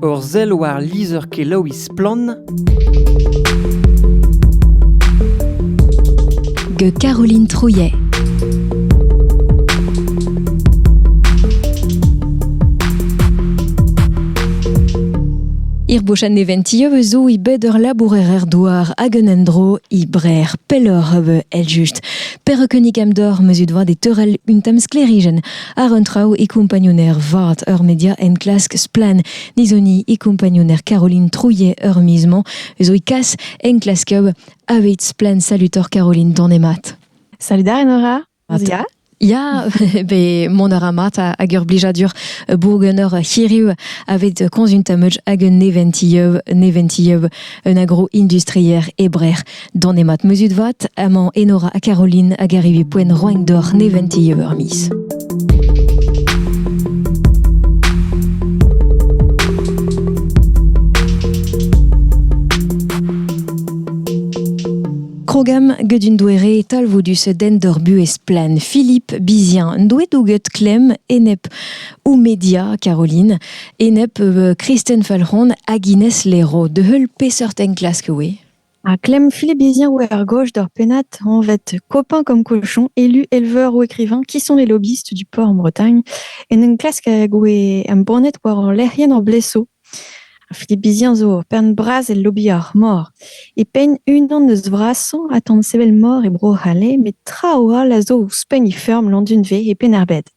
Ur sell war lizher-kelaouiñ Splann! gant Caroline Trouillet. Irbochan neventio zo i bed ur labourer douar hag un endro i brer pelloc'h evel eljust. Perak unnik am dor meus ut vat e teurel un tamm sklerijenn Ar un traoù e kompagnouner vat ur media enklask splann nizoni e kompagnouner Caroline Trouillet ur miz-mañ eus o kas enklasker aveit splann salutor Caroline Danemat. Salut ar Nora. Ya, be mont a ra mat hag ur blijadur bourgen ur hiriv aveit konzuntamoj hag un neventilleuv neventilleuv un agro-industrier e Brec'h. Donemat muzut vat, amañ Enora ha Caroline hag arrivi poen roain d'oc'h neventi eur miz. Krogam gudun douere talvoudus den d'ur buhez plaen. Philippe Bizien, douet douget klem enep ou media Caroline, enep euh, Kristen Falcon hag Ines Lero, de heul pesort enklask oe? Ha klemm Philippe Bézière oa er goj d'ur pennad anvet Copain comme cochon, élu, éleveur ou écrivain, qui sont les lobbyistes du port en Bretagne, en em klask hag oe embannet war hor lec'hienn hor bleso. Philippe Bézière zo ur pern bras el lobby ar mor. E penn unan eus vrasañ a tan sevel mor e Bro-C'hall, met traoù all a zo ouzhpenn he feurm Landunve e Penn-ar-Bed.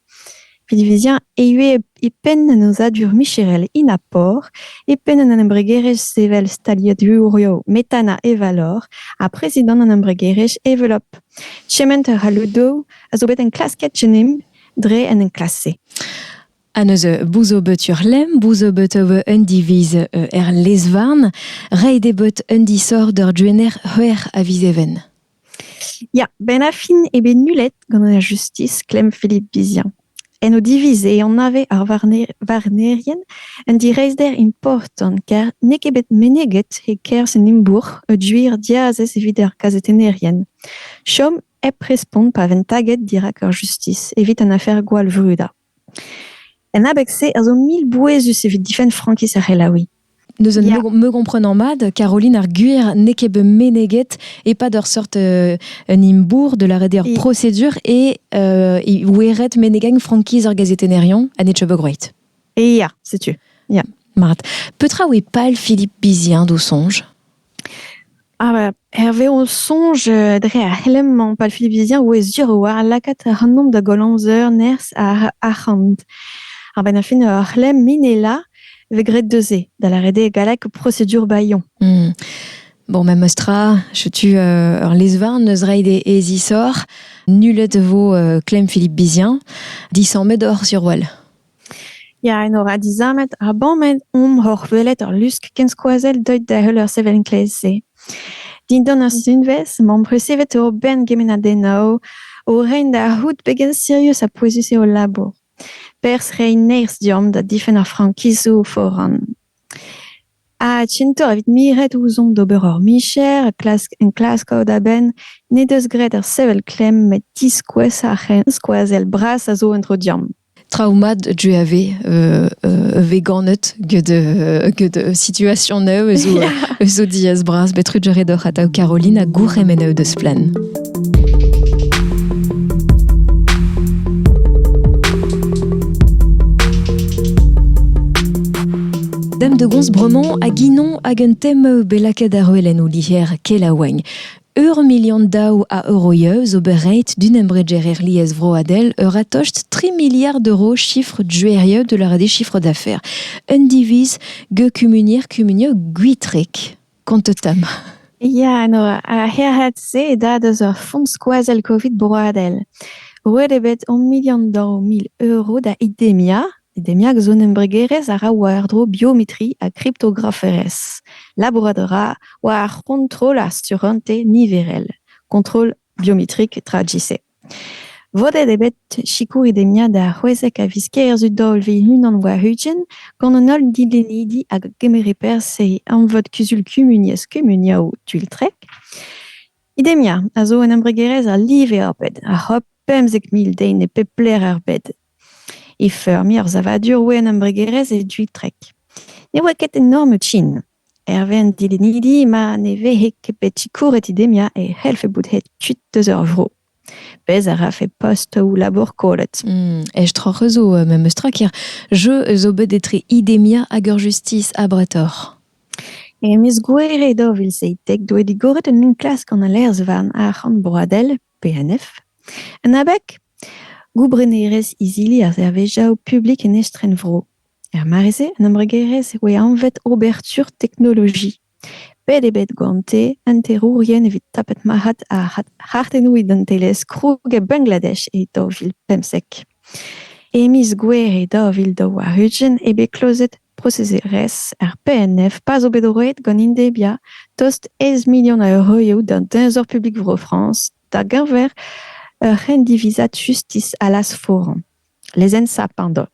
Pinviziañ e ivez e penn an aozadur micherel Inapor, e penn an embregerezh sevel staliadurioù Metana Evalor ha prezidant an embregerezh Evelop. Chementer ha Ludo a zo bet enklasket Genemp dre an enklask-se. Ha neuze bouz bet ur lemm, bouz bet un diviz er lez-varn, reiñ dezhe bet un disoc'h d'ur gener c'hwec'h a viz even. Ya, benn ar fin eo bet nullet gant an justis klemm Philippe Vizian. En o diviz eo anave ar varnerien un direizhder important ker n'eo ket bet meneget e-kerzh en imbourc'h ur gwir diazez evit ar gazetennerien. Chom hep respont pa vent taget dirak ar justis evit an afer gwallvrudañ. En abeg-se a zo mil bouezus evit difenn frankiz ar c'helaouiñ. Neuze yeah. me, me gomprenan mat, Caroline ar Gwir n'eo ket bet meneget e-pad ur seurt euh, un imbourr de la ur prosedur et euh, oueret menegañ frankiz ar gazetenerion a Netchebogwroight. Ja, setu. Ja. Mat. Petra oe pal Philippe Bizien d'o sonj Ah, hervez ho soñj, euh, dre ar c'helenn-mañ palfilvizien, e vez sur war lakaat ac'hanomp da goll amzer nerzh ar arc'hant. A-benn ar fin ur c'hlemm minelañ vez graet deus-se, da lâret eo gallek prosedur bailhon. Mmh. Bon, memes tra, setu euh, ur lez-varn eus reiñ d'e e zisoc'h. Nullet vo euh, klemm Philippe Bizien, disammet oc'h sur wel. Ya, enor ha dizammet ha bamet omp oc'h welet ur lusk kenskoazell deuet da heul ur sevel enklaez-se. Dindan ur sunvezh emaomp resevet ober gemennadennoù o reiñ da c'hoût pegen sirius ha pouezus eo hol labour. Perzh reiñ nerzh deomp da difenn ar frankizoù foran. Ha tintoc'h evit miret ouzhomp d'ober hor micher, klask enklaskout a-benn n'he deus graet ur sevel klemm met diskouez ar c'henskoazell bras a zo en-dro deomp. traoù mat du a vez vez ganet get get situation eu zo zo diaz bras bet rudier edoc'h atav Caroline ha gourc'hemenn eu deus flaen. Dem de Gonz Bremont a ginon hag un tem belaked ar oelen ou liher kelaouagn. Ur milion daou a euro eo zo bet roet d'un embregerer liesvroadel euratost 3 miliard euro chiffre juerieu de la rede chiffre d'affaires. Un diviz ge kumunir kumunio gwitrek. Kontetam. Ya, no, ar c'herc'hat-se e dad eus ur font skoazell Covid broadel. Roet eo bet o milion daou mil euro da Idemia E demiad zo un embregerezh a ra war-dro biometri ha kriptograferezh. Labourat a ra war ar c'hontrol ar surentez niverel, kontrol biometrik tra GC. Vodet eo bet sikour e demiad ar c'hwezek a viz Kêr zu daou vil unan war-ugent gant an holl dilennidi hag a gemere perzh e emvod kuzul kumuniezh kumuniaoù Tuiltrek. Idemia a zo un embregerezh a live ar bed, a c'hop pemzek mil den e pep lec'h er bed. e feurmiñ ur savadur wenn embregerezh e Dwytrek. Ne oa ket enorm trin. Hervez an dilennidi ma ne vehe ket bet sikouret Idemia e c'hellfe bout aet kuit eus ur vro. Pezh a rafe postoù-labour kollet. Aestroc'h zo memes tra ker jeu zo bet etre Idemia hag ar justis abretoc'h. E miz Gouere daou vil seitek doe digoret un enklask gant al Aerz-varn arc'hant broadel PNF. En abeg, goubrenerezh izili ar servijaoù publik en estrenvro. Er mare-se, an embregerezh e oa anvet Oberture Technologie. Bet eo bet gante hanterourien evit tapet marc'had ar c'hartennoù identelezh kroug e Bangladesh e daou vil pemzek. E miz Gouere daou vil daou warn-ugent eo bet klozet Prosezerezh ar PNF pa'z eo bet roet gant Indebia tost aes milion a euroioù d'an Teñzor publik Vro-Frañs da-geñver ur c'hendivizad justis allas foran, lezensañ pardon,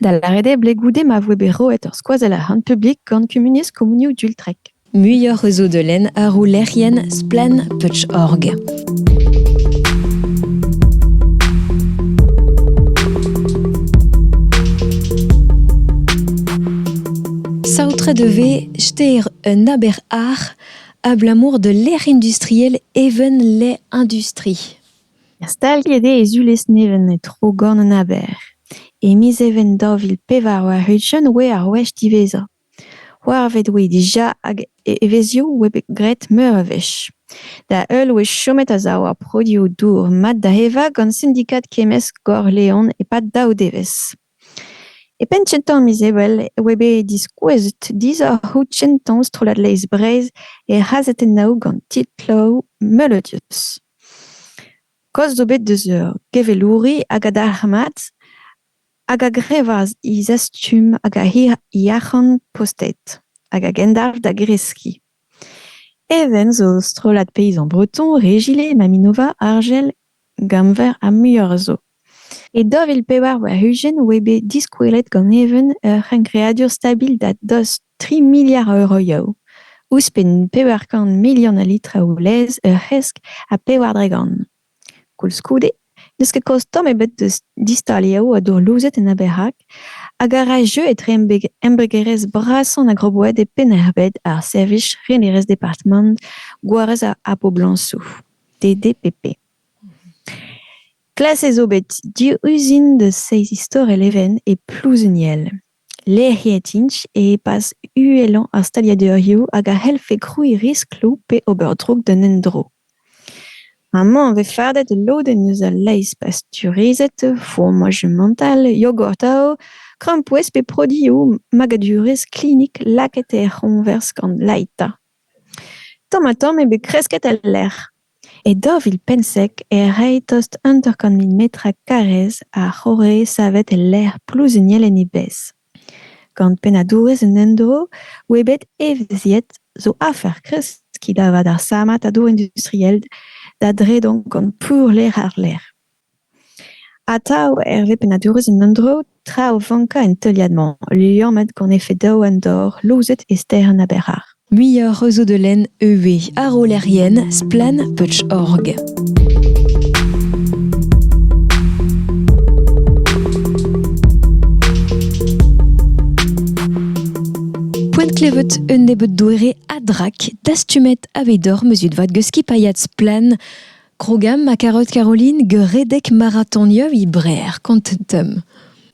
da lâret eo blez goude ma voe bet roet ur skoazell arc'hant publik gant kumuniezh komunioù Dultrek. Muioc'h eus o deulenn arroulerien Splann Touch.org. Saotre de ve steir un aber ar abalamour de l'air industriel even les industries. Staliet eo e zulez nevez e tro gant an aber. E miz even daou vil pevar war-ugent oa ar wech diwezhañ. C'hoarvet oe dija hag evezhioù oe bet graet meur a wech. Da heul oe chomet a-sav ar produoù dour mat da evañ gant sindikad kemmesk Gor-Leon e-pad daou devezh. E penn kentañ miz Ebrel e oe bet diskouezet disoc'hoù kentañ strollad Leizh Breizh er c'hazetennoù gant titloù Melodious. Kaoz zo bet deus ur gevelouri hag a dalc'h mat hag a grevas he zastum hag he yac'han postet, hag a gendalc'h da greskiñ. Even zo strollad peizañ breton Regilé, Maminova, Argel, Gamver ha muioc'h zo. E daou vil pevar warn-ugent oa bet diskouezet gant Even ur c'hengreadur stabil da dost tri miliard a euroioù, ouzhpenn pevar kant milion a litraoù laezh ur c'hresk ha pevar dregont. Koulskoude n'eus ket kost tamm ebet da distaliañ o dourlouzed en aber-hag hag a ra jeu etre embregerezh brasañ an agroboed e Penn-ar-Bed ar servij renerezh departamant gwarez ar poblañsoù DDPP. Klasket zo bet div uzin da seizh istor e Leven e Plouzeniel. Lec'hiet int e-pad uhelañ ar staliadurioù hag a c'hellfe krouiñ riskloù pe ober droug d'un endro. Amañ e vez fardet ul lodenn eus al laezh pasteurizet, fromagemental, yogurtoù, krampouezh pe produioù magadurezh klinik lakaet er c'hoñvers gant laita. Tamm-ha-tamm eo bet kresket el lec'h. E daou vil pemzek e rae tost hanter-kant mil metr karrez a c'horre savet el lec'h plouzuniel en e bezh. Gant pennadourez an endro oa bet evezhiet zo afer kreskiñ da vat ar sammad a-dro industriel da dredan gant pourlec'h-àr-lerc'h. Atav, hervez pennadurezh un endro, tra o vankañ en teuliad-mañ, liammet gant efed daou an dor louzet e stêr an Aberhar. Muioc'h a zo da lenn ivez ar rollerien Splann Putsch.org. Poent klevet un nebeud doere a drak dastumet aveit oc'h meuzut vat geus skipailhad Splann Krogam ha karout Caroline ur redek maratonioù e Breer, kontet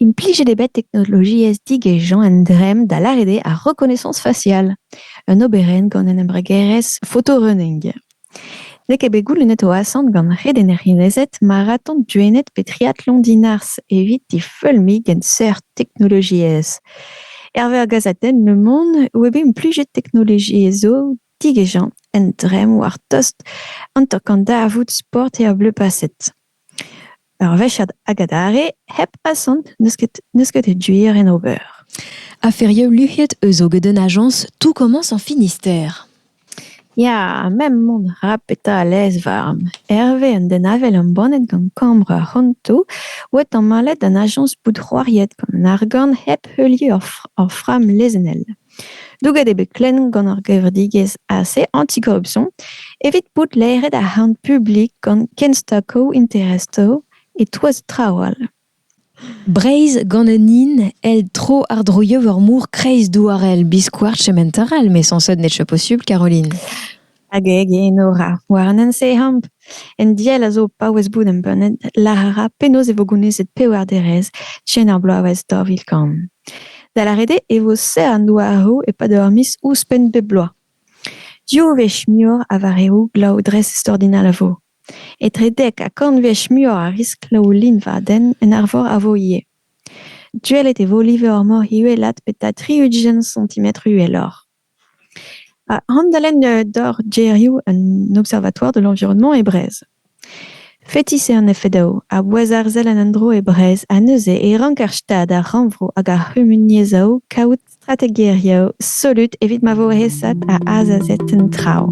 Implijet eo bet teknologiezh digezhañ un dremm da lâret eo ar rekonaissance faciale, un oberenn gant un embregerezh photorunning. N'eo ket bet goulennet o asant gant redeneriezed maraton duennet pe triathlon dinars evit difeulmiñ gant seurt teknologiezh. Herve ar gazadenn Le Monde, web implijet teknologiezh zo Tigejañ un dremm war tost an tok an darvoud sport eo bleu paset. Ur wechad hag adarre hep asant n'eus ket n'eus ket gwir en ober. Aferioù luc'hiet eus hoget un ajañs tout commence en Finistère. Ya, m'em mont ra petra a lez warm. Hervez un den avel embannet gant kambr ar c'hontoù oa tamallet un ajañs bout c'hoariet gant an argant hep heuliañ ur fr- ur framm lezennel. Douget eo bet klemm gant ar gevredigezh AC Anticorruption evit bout laeret ar c'harn publik gant kenstakoù interestoù e-touez traoù all. Breizh gant un hin èl tro-àr-droioù ur mor kreizdouarel biskoazh chemental, met sañset n'eo posubl, Caroline. Hag e genor ar Warnensee Hamp. En diell a zo paouez bout embannet lâr a ra penaos e vo gounezet pewar derez chen ar bloavezh daou vil kant. Da lâret eo e vo serr an douaroù e-pad ur miz ouzhpenn bep bloaz. Div wech muioc'h a vareoù glav dres extraordinal a vo. Etre dek ha kant wech muioc'h a riskl o liñvadenn en arvor a vo ivez. Duellet e vo live ar mor uhelat beta tri-ugent santimetr uheloc'h. Handalen doc'h gêrioù an Observatoire de l'environnement e Brest. Fetis eo an efedoù a bouez arzel an endro e Brest ha neuze e rank ar Stad, ar Rannvro hag ar c'humuniezhoù kaout strategezhioù solut evit ma vo aesat ha azezet an traoù.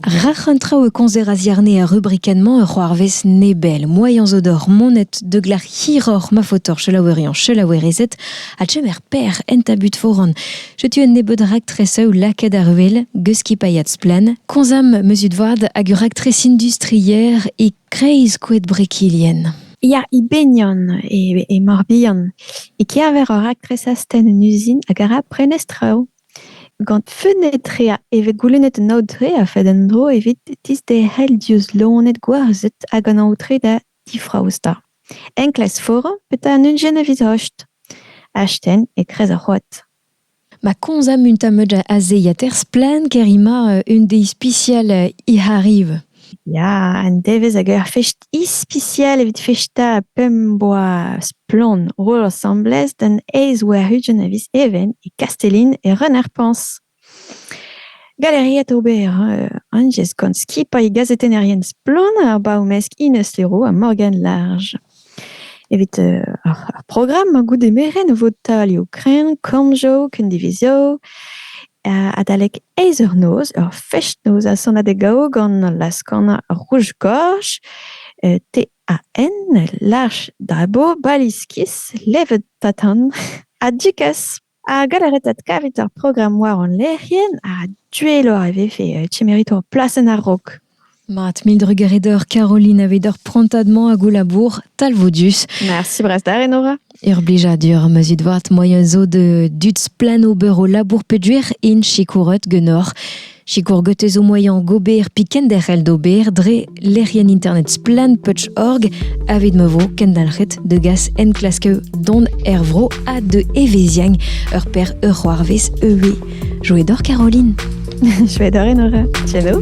Rac'h an traoù e komzer a-ziarne ar rubrikenn-mañ ur c'hoarvez nebel. Moaien zo deoc'h monet da glac'h hiroc'h ma faotoc'h selaoueriañ selaouerezed ha chemer per en tabut foran. Setu un nebeud raktres eu lakaet àr wel, geus skipailhad Splann. Komzam meuzut vat hag ur raktres industrier e kreiz koed Brekilien. Ya, e Benion, e, e Morbihan, e-keñver ur raktres astenn en uzin hag a ra prenestr-traoù Gant fenn-etre e vez goulennet un aotre a-fed un dro evit disderc'hel diouzh loened gwarzhet hag an aotre da difraostañ. Enklask foran petra an unjen evit hacht. Hachten e-kreiz ar c'hoad. Ma komz amunt am eus da azeiañ-ter-splann ker emañ un deiz ispisial he c'harr ivez. Ya, un devezh hag ur fest ispisial evit festañ pemp-boa splann roll asambles d'an aez war-ugent a viz Even e Kastellin e Reun-ar-Pañs. Galeriet ober euh, Anjez gant skipailh gazetennerien Splann ar baour-mesk Ines Leroux ha Morgane Large. Evit ar programm goude merenn e vo taolioù kreñv, kanjo, kendivizio. Adalek eizh eur noz, ur fest-noz ha sonadeg gaou gant laz-kanañ Rouge-Gorge, T-A-N, Lâch Dabo, Baliskis, Levet Tatan ha Dukas. Ha gant ar retad kavet ar programm war hon lec'hienn, ha duelloc'h e vefe kemerit ho plasenn a-raok. Mat, mil drugaret oc'h Caroline evit hor prantad-mañ hag ho labour talvoudus. Merci brasdar, Enora. Ur blijadur ma zit vat moaien zo da dud splann ober o labour peogwir int sikouret ganeoc'h. Sikour gotez o moyen gober pi kenderc'hel d'ober dre lec'hienn internet splanputch.org avit ma vo kendalc'het de gas enklaske don er vro a de eveziang ur per ur c'hoarvez eue. Joe d'or Caroline Chouette d'or Enora Tieno